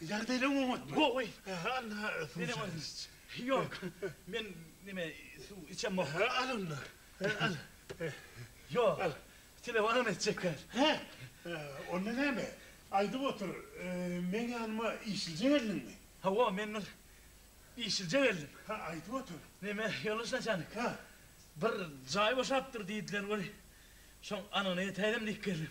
Ýagdaýlaň oňatmy? Gowy. Anna, suw içäýeliç. Ýok, men neme, suw içemok. Al onda. Al. Ýok, al. Telefon etjek däl. Hä? Onda näme? Aýdyp otur, meň ýanyma işlije geldiňmi? Hawa, men bir işlije geldim. Hä, aýdyp otur. Neme, ýoldaş naçalnik? Hä? Bir jaý boşapdyr diýdiler weli, şoň anygyna ýetäýelim diýip geldim.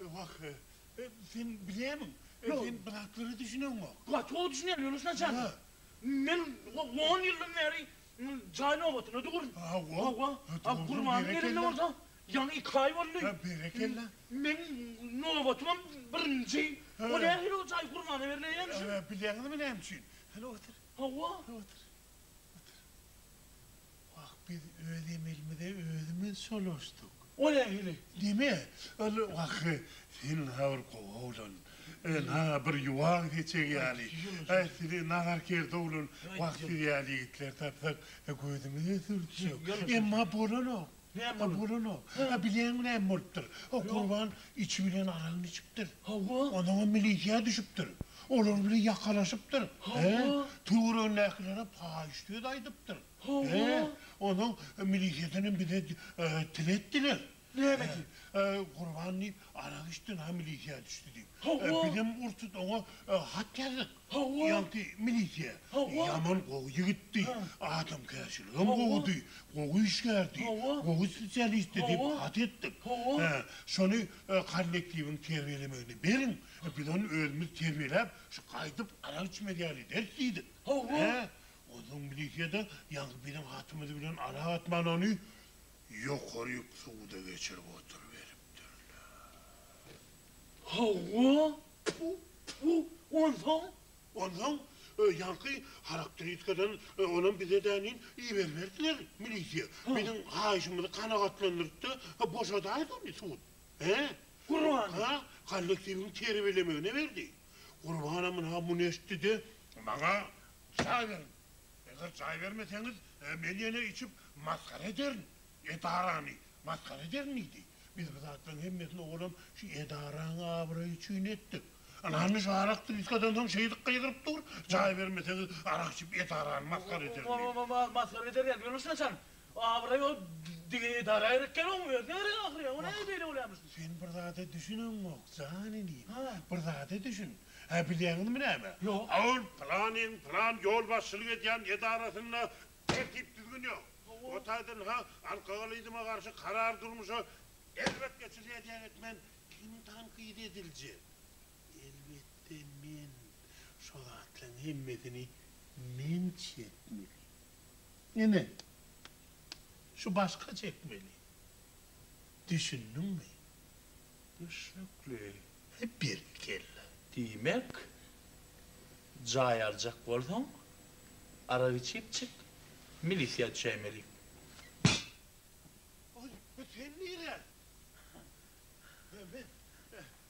Wah, sen bilýämiň, sen bratlara düşüneňok. Bratlara düşünýän, ýöneş naçalnik. Hä. Men on ýyldan bäri jaý nobatyna durun. Hawa, hawa. Gurbanyň gelende bolsa ýaňy iki aý boldy. Hä, berekella. Meniň nobatymam birinji. O nähili o jaý gurbana berleýän üçin? Hä, bilýäňizmi näme üçin? Hany otur. Hawa. Otur. Otur. Wah biz öz emelimize özümiz çolaşdyk. O nähili deme ol wah sen ha bir gowy oglan na bir ýuwag seçeg ýaly a size nahar kerdi oglan wah siz ýaly ýigitler tapsak gözümize sürtsek emma bolanok a bolanok a bileň bilen bolupdyr o gurban içi bilen aragyny içipdir onuňam milisiýa düşüpdir olar bilen ýakalaşypdyr he töweregindäkilere paýyş söz aýdypdyr. Howwa. He, onuň milisýasyny bize til etdiler. Näme diýip? Gurban diýip, arak içdi, na milisýa düşdi diýip. Howwa. Bizem ur-tut oňa hat ýazdyk. Howwa. Ýaňky milisýa. Howwa. Ýaman gowy ýigitdi, adamkärçiligem gowudy, gowy işgärdi, gowy spesialistdi diýip hat etdik. Howwa. Şony kollektiwiň terbiýelemegine beriň, biz ony özümiz terbiýeläp, şu gaýdyp arak içmez ýaly ederis diýdik. Howwa. Onsoň milisiýada ýaňky biziň hatymyz bilen aragatnalany ýokary suda geçirip oturyberipdirler. Hawa, pu, pu, onsoň? Onsoň ýaňky harakteriskadan olam bize dänin iberiberdiler milisiýa. Biziň haýyşymyzy kanagatlandyryp-da boşadaýdy ony sud. He. Gurban! Kollektiwiň terbiýelemegine berdi. Gurban amana muny eşitdi-de, Maňa jaý beriň. Eger jaý bermeseňiz, men ýene içip masgara ederin, edarany masgara ederin diýdi. Biz bu zatlaryň hemmesini oglum şu edaraň abraýy üçin etdik. Ynamly şu arak trýuskadan soň şeýdip gygyryp dur, jaý bermeseňiz, arak içip edarany masgara ederin diýdi. Masgara ederin diýdi. Ýöne şunça çany? Abraý ol dige edara gerek däl oň özüne gerek ahyry ýa o nädip beýle bolýarmyş diýip. Sen bir zada düşüneňok jan inim. Bir zada düşün. Hä bilýäňizmi näme? Ýok. Ol planyň plan ýolbaşçylyk edýän edarasynda tertip düzgün ýok. O taýdan ha alkogolizme garşy karar durmuşa erbet geçirýär diýen etmen kim tankyt ediljek? Elbetde men şo zatlaň hemmesini men çekmeli. Ine, şu başga çekmeli. Düşündiňmi? Düşnükli. He, berekella. Diýmek, jaý aljak bolsaň, arak içip çyk, milisiýa düşäýmeli. Aý, sen nirä? Men.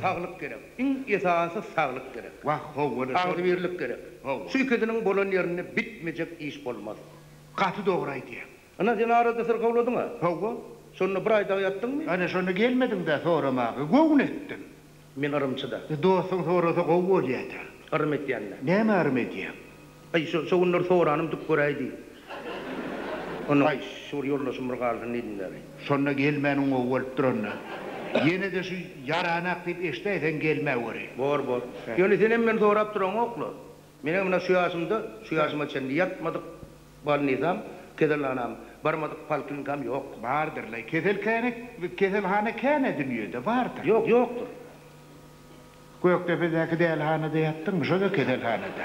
Saglyk gerek. Iň esasy saglyk gerek. Wah, howwada agzybirlik gerek. Howwa. Şu ikisiniň bolan ýerinde bitmejek iş bolmaz. Gaty dogry aýdýaň. Ynha, sen arada syrkawladyň-a? Howwa. Şonda bir aý dagy ýatdyňmy? Ana, şonda gelmediň-dä soramaga. Göwün etdim. Men yrymçy-da. Dostuň sorasa gowy bolýa-da. Yrym etýän-dä. Näme yrym edýäň? Aý, şo günler soranym dik göräý diý. Onda. Aý, şu bir ýoldaşym bir galsyn diýdim däl-eý. Şonda gelmäniň gowy bolupdyr onda. Ýene-de şu ýaranak diýip eşidäýseň gelmäweri. Bor, bor. Ýöne senem meni sorap duraňok-la. Menem ynha şu ýaşymda, şu ýaşyma çenli ýatmadyk bolnisam, keselhanam, barmadyk polklinikam ýok. Bardyr-laý, keselkäne, keselhana käne dünýede bardyr. Ýok, ýokdur. Gökdepedäki dälihanada ýatdyňmy, şo-da keselhanada.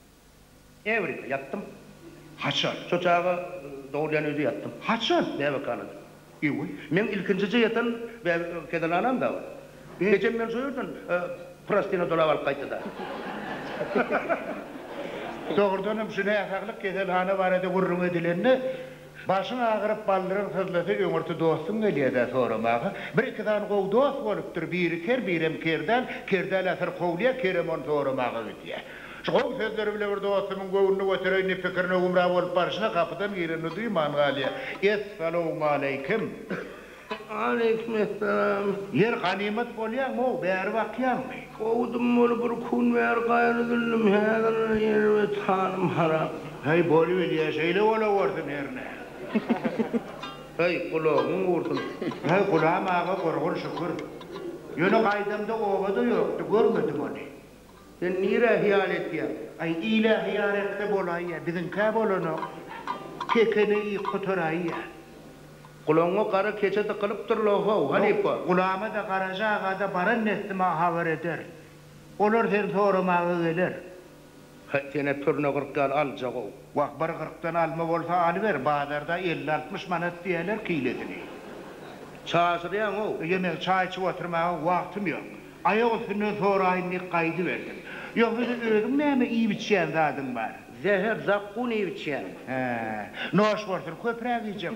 Äwirýär, ýatdym. Haçan? Şo çaga dogulýan öýde ýatdym. Haçan? Bäbekhanada. Eý-we. Meň ilkinjije ýatan kezenhanam-da ol. Ejem meni şo ýerden prostyna dolap alyp gaýtdy-da. Dogrudanam, şu näsaglyk keselhana barada gürrüň edilende. Başyň agyryp baldyryň syzlasa öňürti dostuň gelýädä soramaga. Bir-iki sany gowy dost bolupdyr, biri ker, birem kerdal, kerdal asyr kowulýa, kerem ony soramaga gidýä. Şu gowy sözleri bile bir dostumyň göwnüni götereýin diýip pikirine gümra bolup barşyna gapydan gireni duýman galýa. Es-salowmaleýkim! Aleýkumessalam. Ýer ganymat bolýaňow bäri bakýaňmy. Kowdum ony bir kun bäri gaýra düldüm häzir erbet hanym harap. Heý bolubilýä şeýle bolawersin hernä. Heý gulagyň gursun. Heý Gulam aga gurgun şükür. Ýöne gaýdamda obada ýokdy görmedim ony. Sen nirä hyýal etýäň? Aý, ile hyýal etse bolaýýa, biziňkä bolanok. Kekene iýip gutaraýýa. Gulagyňa gara keçe dykylypdyr-la, ho-w, halypa! Gulama-da, Garaja aga-da baran neslime habar ederin. Olar seni soramaga geler. Hä, sen-ä turna gyrk ýaly aljak-ow. Wah, bir gyrkdan alma bolsa alyber, bazarda elli-altmyş manat diýýäler kilesini. Çaşyrýaň-ow. Ýemek, çaý içip oturmaga wagtym ýok. Aýak üstünden soraýyn diýip gaýdyberdim. Ýok, hili özüň näme iýip-içýän zadyň bar? Zäher, zakgun iýip-içýän. Hä. Noş bolsun, köpräk iýjek.